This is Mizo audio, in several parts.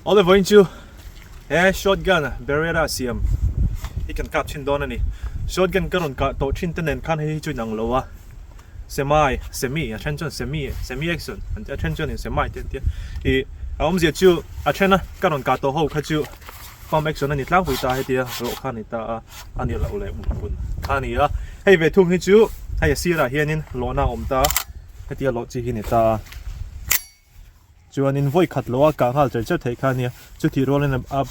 Oliver in chu he short gun a beretta a siam hi kan kap thin dawn a ni short gun ka rawn kah tawh thin te nen khan hei hi chu inang lo a semi semi a then chuan semi semi action an ti a then chuan in semi te an ti a i a awm zia chu a then a ka rawn kah tawh ho kha chu pump action a ni tlang pui ta heti a rawh kha ni ta a a ni lo leh mut hun kha ni a hei ve thung hi chu hei a sirah hianin lawhna awm ta heti a lawh chi hi ni ta a Chuan in vawi khat loha kah nghal cher cher theih kha a nia. Chutih rual in a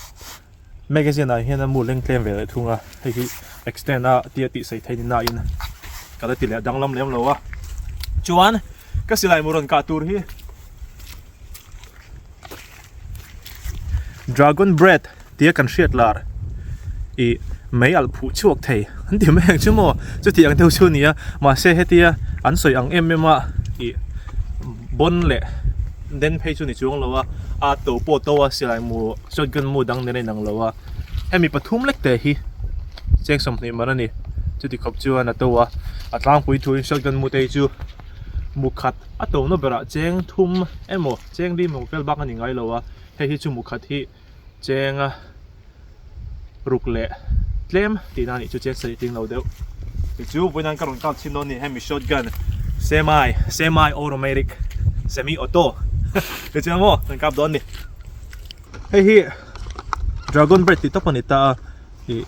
magazine ah hian a mu leng tlem ve leh thung a, hei hi extend a tia tih sawi theih nina in ka la ti leh danglam lem lo a. Chuan ka silai mu rawn kah tur hi Dragon Bread. tia kan hriat lar i mei alh phuh chhuak thei an ti mai ang chu maw chuti ang deuh chu a nia mahse hetia an sawi ang em em a ih bawn leh den phei chu ni chuang lo a a to pawh to a silai mu shotgun mu dang nen a inang lo a hemi pathum lek te hi cheng sawmhnih man a ni chuti khawp chuan a to a a tlangpui thuin shotgun mu te hi chu mu khat a tawna berah cheng thum emaw cheng rimawng fel bak a ni ngai lo a hei hi chu mu khat hi-- chenga ruk leh tlem tihna anih chu cheng saritling lo deuh tichu puinan ka rawn kalchhin dawn nih hemi short gun semi semi automatic semi auto ti chu maw kan kap dawn ni hei hi dragon bread tih tak a ni ta a ih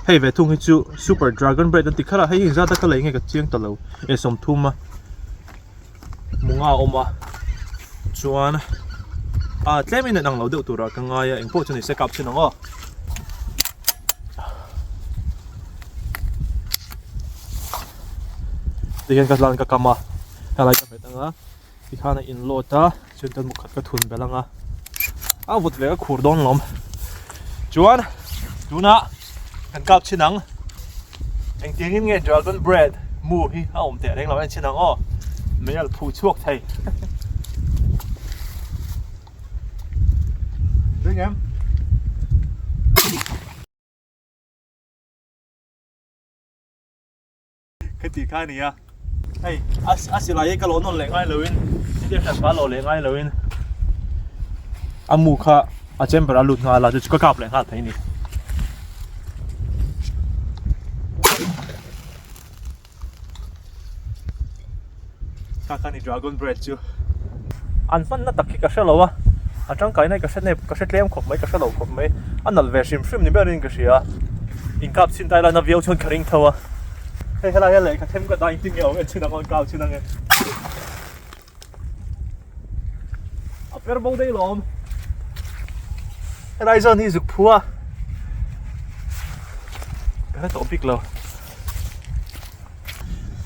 hei ve thung hi chu super dragon bread an ti kha la hei hi zat a ka lei nge ka chiang ta lo e sawm thum a Hmanga a awm a chuan a tlem in an ang lo deuh tur ah ka ngai a engpawh chu ni se kap chin ang aw. Tihian ka hlan ka kam a helai ka hmet ang a tikhan a in load a. Chu tan khat ka thun belh anga a vut leh ka khur dawn lawm chuan tuna kan kap chhin ang engtiang in nge dragon bread mu hi a awm teh reng lo a ni chin ang aw mei al phu chhuak thei Drink em Khati kha ni a. Hei, a silai hi ka lo nawn leh ngai lo in, hriat hriat ka lo leh ngai lo in. A mu kha a chamber a lut nghal a, chu chu ka kap leh nghal phei ni. Ka ka ni dragon bread chu. An hman na tak hi ka hre lo a, a tangkai na hi ka hre nep, ka hre tlem khawp mai, ka hre lo khawp mai. A nalh ve hrim hrim ni ber in ka hria a, inkap chhin tai laiin a viau chuan ka ring tho a. Hei helai hian lei ka them ka dai inti nge awm enchin ang aw, inkau chhin ang e. A per bo daih lo awm. Helai zone hi zuk phu a, ka hre tawh bik lo.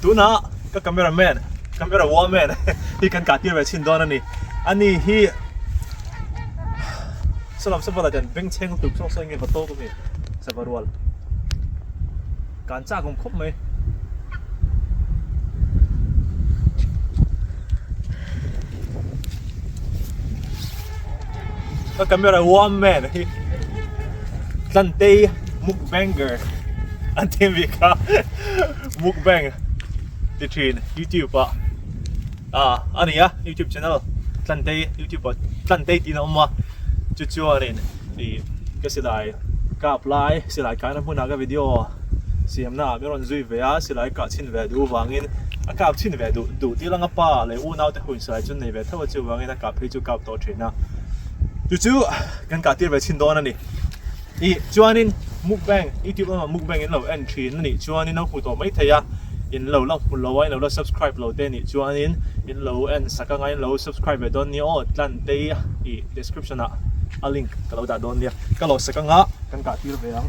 Tunah ka camera man, camera woman hi kan katir ve chin dawn a ni. Ani hi Salam Sava la ten beng cheng tuk chok chok nge va to ka mi Sava rual. Kan chak kum khop mai. Ka camera woman hi Tlantei mukbanger an thim ve ka. mukbang ti thin youtube ah ah ania youtube channel tlantei youtube ah tlantei tina awm a chu chuan in i ka silai kap lai silai kahna hmuna ka video siamna ah ka rawn zui ve a silai kah chhin ve duh vangin a kap chhin ve duh duh tir ang a pa leh u nau te hun silai chu nei ve thauh a chuvangin a kap phei chu kap tawh thin a chu chu kan kah tir ve chhin dawn a ni I chuanin mukbang youtube lamah mukbang in lo en thin a nih chuan in lo hmu tawh mai thei a in lo la hmu lo a in lo la subscribe lo te nih chuan in in lo en sak anga in lo subscribe ve dawn nia aw tlan te i i description ah a link ka lo dah dawn nia ka lo sak anga kan kah tir ve ang.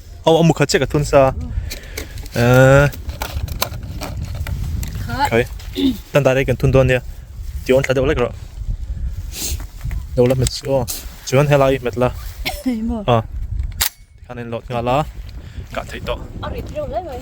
Aw, a mukha chek a thun sa. Eh. Khai. Tan ta rei kan thun don nia. Ti on thla deuh lek ro. Lo la met o. Chuan helai met la. Imo. Ah. Khanin lot nga la. Ka thei to. Ari theu lai mai.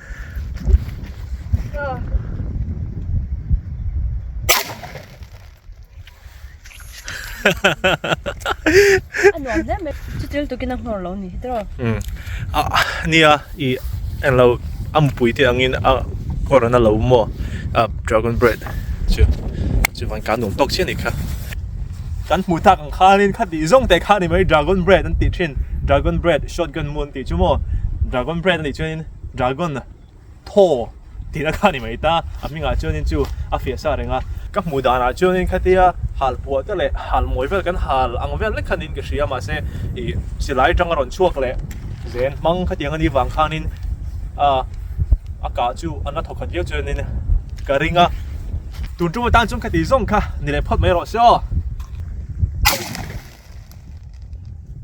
nuam hle mai chu tel tukin a hnawr lo ni hi tawh um a nia i en lo a mupui te angin a hnawr an lo maw a dragon bread chu chu van ka nuam tawk chian ni kha kan hmu tak ang khanin kha tih zawng te kha ni mai dragon bread an tih thin dragon bread shotgun maw an tih chu maw dragon bread a nih chuan in-- Dragon a thaw tih na kha ni mai ta a hmingah chuan in chu a fiah sa reng a ka hmuh dan ah chuan in khatia hal puah te leh hal mawi vel kan hal ang vel vek khan in ka hria mahse i silai tang a rawn chhuak leh zen hmang kha tiang a nih vang khan in a a kah chu a na thaw khat viau chuan in ka ring a tun ṭum atan chuan khati zawng kha ni leh phawt mai erawh se aw.